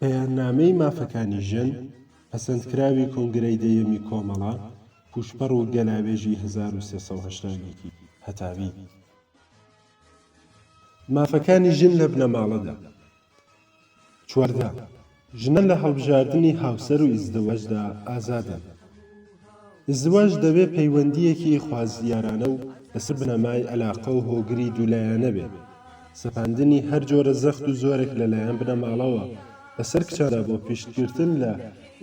بەیاننامەی مافەکانی ژن، پەسەندکراوی کۆنگرەی دەیەمی کۆمەڵە، پووشپەڕ و گەلاوێژی 1370ەکی هەتاوی. مافەکانی ژن لە بنەماڵەدا، چواردە، ژنە لە هەڵبژاردنی هاوسەر و ئیزدواجدا ئازادن. ئیزدواج دەبێ پەیوەندییەکی خوازیارانە و لەسەر بنەمای ئەلاقە و هۆگری دوولایەنە بێ. سەپاندنی هەر جۆرە زەخت و زۆرێک لە لایەن بنەماڵەوە بەسەر کچاندا بۆ پیشتگرتن لە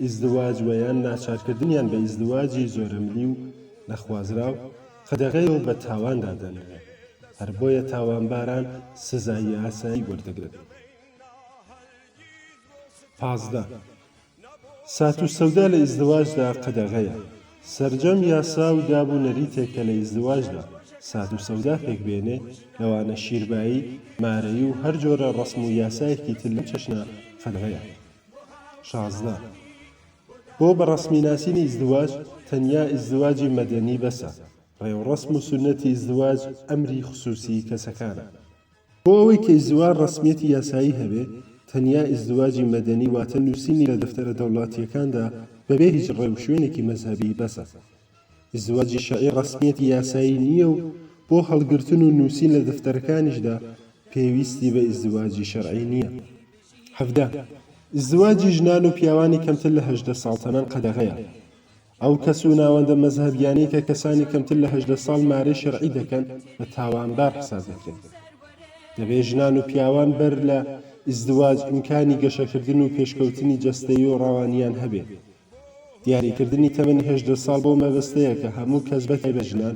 ئیزدواج وە یان ناچارکردنیان بە ئیزدواجی زۆرەملی و نەخوازراو، قەدەغەیە و بە تاوان دادەنرێت، هەر بۆیە تاوانباران سزای ئاسایی وەردەگرن. پازدە. سات و سەودا لە ئیزدواجدا قەدەغەیە، سەرجەم یاسا و داب و نەریتێک کە لە ئیزدواجدا سات و سەودا پێک بێنێ، لەوانە شیربایی، مارەیی و هەر جۆرە ڕەسم و یاسایەکی تر لەم چەشنە قەدەغەیە. شازدە. بۆ بە ڕەسمی ناسینی ئیزدواج تەنیا ئیزدواجی مەدەنی بەسە، ڕێوڕەسم و سوننەتی ئیزدواج ئەمری خسووسیی کەسەکانە. بۆ ئەوەی کە ئیزدواج ڕەسمییەتی یاسایی هەبێ تەنیا ئیزدواجی مەدەنی واتە نووسینی لە دەفتەرە دەوڵاتییەکاندا بەبێ هیچ ڕێ و شوێنێکی مەزهەبی بەسە. زوەجی شەعی ڕەسمیەتی یاسایی نییە و بۆ هەڵگرتن و نووسین لە دەفتەرەکانیشدا پێویستی بە ئیزدواجی شەرعی نییە. حەڤدە، ئیزدواجی ژنان و پیاوانی کەمتر لە هەژدە ساڵ تەمەن قەدەغەیە. ئەو کەس و ناوەندە مەزهەبیانەی کە کەسانی کەمتر لە هەژدە ساڵ مارەی شەرعی دەکەن بە تاوانبار حساب دەکرێن. دەبێ ژنان و پیاوان بەر لە ئیزدواج ئیمکانی گەشەکردن و پێشکەوتنی جەستەیی و ڕەوانییان هەبێ. دیاریکردنی تەمەنی هەژدە ساڵ بەو مەبەستەیە کە هەموو کەس بەتای بە ژنان،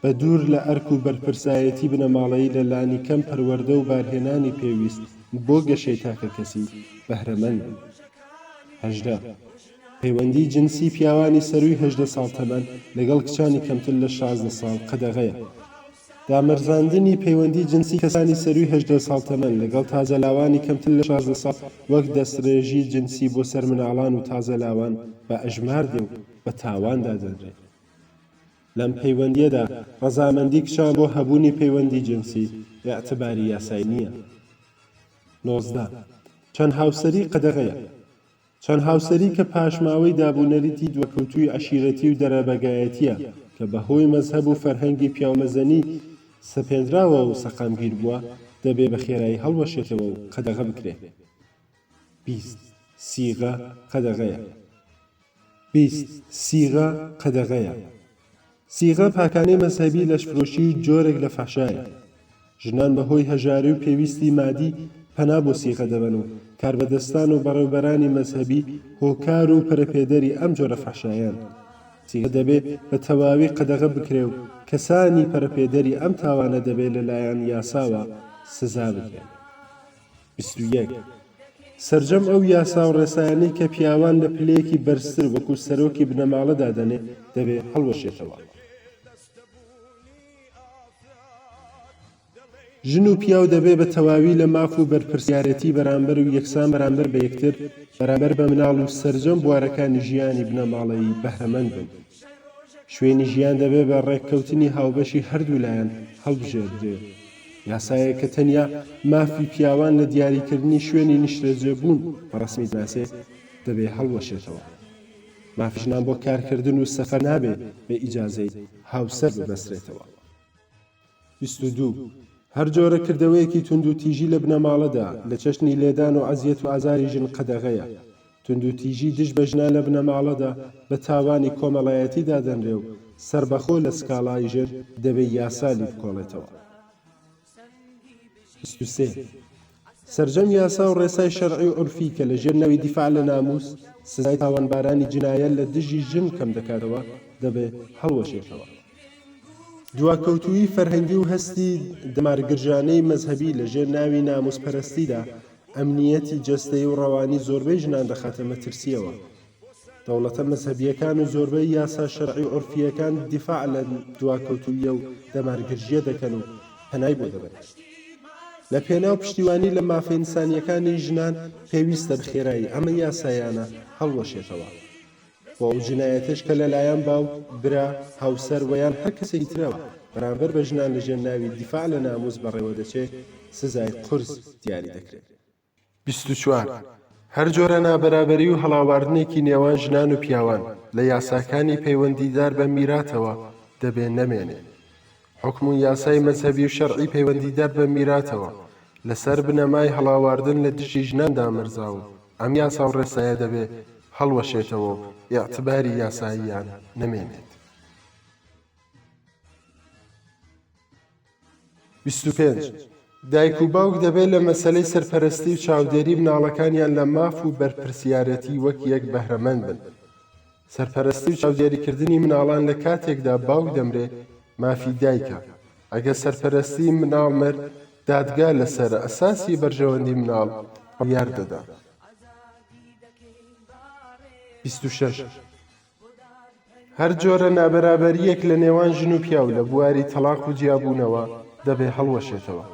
بە دوور لە ئەرک و بەرپرسایەتی بنەماڵەیی لە لانی کەم پەروەردە و بارهێنانی پێویست بۆ گەشەی تاکەکەسی، بەهرەمەند بن. هەژدە. پەیوەندی جنسی پیاوانی سەرووی هەژدە ساڵ تەمەن لەگەڵ کچانی کەمتر لە شازدە ساڵ قەدەغەیە. دامەرزاندنی پەیوەندی جنسی کەسانی سەرووی هەژدە ساڵ تەمەن لەگەڵ تازەلاوانی کەمتر لە شازدە ساڵ وەک دەستڕێژی جنسی بۆ سەر مناڵان و تازەلاوان بە ئەژمار دێ و بە تاوان دادەنرێ. لەم پەیوەندییەدا ڕەزامەندی کچان بۆ هەبوونی پەیوەندی جنسی ئیعتباری یاسایی نییە. نۆزدە. چەند هاوسەری قەدەغەیە؟ چەند هاوسەری کە پاشماوەی دابونەریتی دوەکەوتووی عەشیرەتی و دەرەبەگایەتیە کە بە هۆی مەزهەب و فەرهەنگی پیاومەزنی سەپێندراوە و سەقامگیر بووە دەبێ بە خێرایی هەڵوەشێتەوە و قەدەغە بکرێ بیست سیغە قەدەغەیە بیست سیغە قەدەغەیە. سیغە پاکانەی مەزهەبی لەشفرۆشی و جۆرێک لە فەحشایە. ژنان بە هۆی هەژاری و پێویستی مادی پەنا بۆ سیغە دەبەن و کاربەدەستان و بەڕێوبەرانی مەزهەبی هۆکار و پەرەپێدەری ئەم جۆرە فەحشایەن. سیغە دەبێ بە تەواوی قەدەغە بکرێ و کەسانی پەرەپێدەری ئەم تاوانە دەبێ لە لایەن یاساوە سزا بدرێن. بیست و یەک، سەرجەم ئەو یاسا و ڕێسایانەی کە پیاوان لە پلەیەکی بەرزتر وەکو سەرۆکی بنەماڵە دادەنێ دەبێ هەڵوەشێتەوە. ژن و پیاو دەبێ بە تەواوی لە ماف و بەرپرسیارێتی بەرامبەر و یەکسان بەرامبەر بە یەکتر، بەرامبەر بە مناڵ و سەرجەم بوارەکانی ژیانی بنەماڵەیی بەهرەمەند بن. شوێنی ژیان دەبێ بە ڕێککەوتنی هاوبەشی هەردوو لایەن هەڵبژێردرێ. یاسایەک کە تەنیا مافی پیاوان لە دیاریکردنی شوێنی نیشتەجێبوون بە ڕەسمی دەناسێ، دەبێ هەڵوەشێتەوە. مافی ژنان بۆ کارکردن و سەفەر نابێ بە ئیجازەی هاوسەر ببەسترێتەوە. بیست و دوو، هەر جۆرە کردەوەیەکی توندوتیژی لە بنەماڵەدا، لە چەشنی لێدان و ئەزیەت و ئازاری ژن قەدەغەیە. توندوتیژی دژ بە ژنان لە بنەماڵەدا بە تاوانی کۆمەڵایەتی دادەنرێ و سەربەخۆ لە سکاڵای ژن دەبێ یاسا لیبکۆڵێتەوە. بیست و سێ. سەرجەم یاسا و ڕێسای شەرعی و عورفی کە لە ژێر ناوی دیفاع لە نامووس، سزای تاوانبارانی جنایە لە دژی ژن کەم دەکاتەوە، دەبێ هەڵوەشێتەوە. دواکەوتوویی فەرهەنگی و هەستی دەمارگرژانەی مەزهەبی لە ژێر ناوی نامووسپەرەستیدا، ئەمنییەتی جەستەیی و ڕەوانی زۆربەی ژنان دەخاتە مەترسییەوە. دەوڵەتە مەزهەبییەکان و زۆربەی یاسا شەرعی و عورفییەکان دیفاع لەم دواکەوتوویی و دەمارگرژییە دەکەن و پەنای بۆ دەبەن. لە پێناو پشتیوانی لە مافە ئینسانییەکانی ژنان پێویستە بەخێرایی ئەم یاسایانە هەڵوەشێتەوە بۆ ئەو جنایەتەش کە لەلایەن باوک، برا، هاوسەر و یان هەر کەسێکی ترەوە بەرامبەر بە ژنان لەژێر ناوی دیفاع لە نامووس بەڕێوە دەچێت سزای قورس دیاری دەکرێت. بیست و چوار، هەر جۆرە نابەرابەری و هەڵاواردنێکی نێوان ژنان و پیاوان لە یاساکانی پەیوەندیدار بە میراتەوە دەبێ نەمێنێ. حوکم و یاسای مەزهەبی و شەرعی پەیوەندیدار بە میراتەوە لە سەر بنەمای هەڵاواردن لە دژی ژنان دامەرزا و ئەم یاسا و ڕێسایە دەبێ هەڵوەشێتەوە و ئیعتباری یاساییان نەمێنێت. بیست و پێنج، دایک و باوک دەبێت لە مەسەلەی سەرپەرەستی و چاودێری مناڵەکانیان لە ماف و بەرپرسیارێتی وەک یەک بەهرەمەند بن. سەرپەرەستی و چاودێریکردنی مناڵان لە کاتێکدا باوک دەمرێ مافی دایکە، ئەگەر سەرپەرەستی مناڵ مرد دادگا لە سەر ئەساسی بەرژەوەندی مناڵ بڕیار دەدات. بیست و شەش. هەر جۆرە نابەرابەرییەک لە نێوان ژن و پیاو لە بواری تەڵاق و جیابوونەوە دەبێ هەڵوەشێتەوە.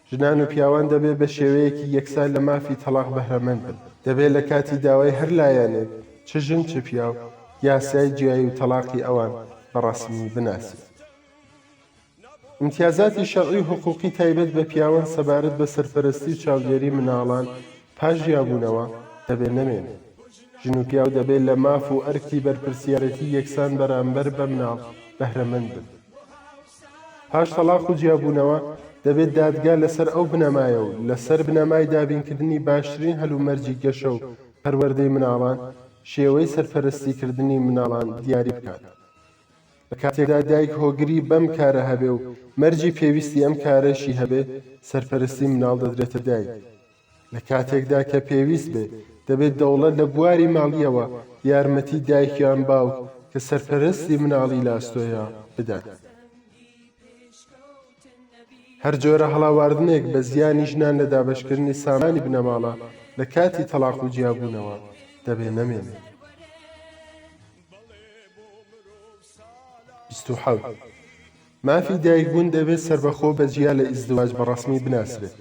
ژنان و پیاوان دەبێ بە شێوەیەکی یەکسا لە مافی تەڵاق بەهرەمەند بن. دەبێ لە کاتی داوای هەر لایەنێک، چ ژن چ پیاو، یاسای جیایی و تەڵاقی ئەوان بە ڕەسمی بناسین. ئیمتیازاتی شەرعی و حقووقی تایبەت بە پیاوان سەبارەت بە سەرپەرەستی و چاودێری منداڵان پاش جیابوونەوە، دەبێ نەمێنن. ژن و پیاو دەبێ لە ماف و ئەرکی بەرپرسیارەتی یەکسان بەرامبەر بە منداڵ بەهرەمەند بن. پاش تەڵاق و جیابوونەوە، دەبێ دادگا لەسەر ئەو بنەمایە و لەسەر بنەمای دابینکردنی باشترین هەلومەرجی گەشە و پەروەردەی منداڵان، شێوەی سەرپەرەستیکردنی منداڵان دیاری بکات. لە کاتێکدا دایک هۆگری بەم کارە هەبێ و مەرجی پێویستی ئەم کارەشی هەبێ، سەرپەرستی منداڵ دەدرێتە دایک. لە کاتێکدا کە پێویست بێ، دەبێ دەوڵەت لە بواری ماڵییەوە یارمەتی دایک یان باوک کە سەرپەرستی منداڵی لە ئەستۆیە، بدات. هەر جۆرە هەڵاواردنێک بە زیانی ژنان لە دابەشکردنی سامانی بنەماڵە لە کاتی تەڵاق و جیابوونەوە، دەبێ نەمێنێ. بیست و حەوت، مافی دایکبوون دەبێت سەربەخۆ بە جیا لە ئیزدواج بە ڕەسمی بناسرێت،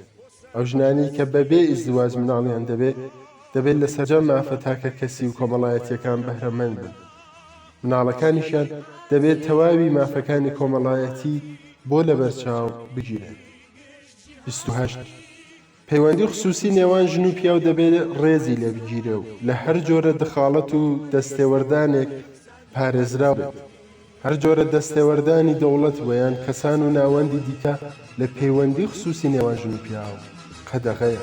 ئەو ژنانەی کە بە بێ ئیزدواج مناڵیان دەبێت، دەبێت لە سەرجەم مافە تاکە کەسی و کۆمەڵایەتیەکان بەهرەمەند بن، مناڵەکانیشیان دەبێت تەواوی مافەکانی کۆمەڵایەتی بۆ لەبەرچاو بگیرێت. بیست و هەشت. پەیوەندی خسووسی نێوان ژن و پیاو دەبێ ڕێزی لێ بگیرێ و لە هەر جۆرە دخاڵەت و دەستێوەردانێک پارێزراو بێت. هەر جۆرە دەستێوەردانی دەوڵەت و یان کەسان و ناوەندی دیکە لە پەیوەندی خسووسی نێوان ژن و پیاو قەدەغەیە.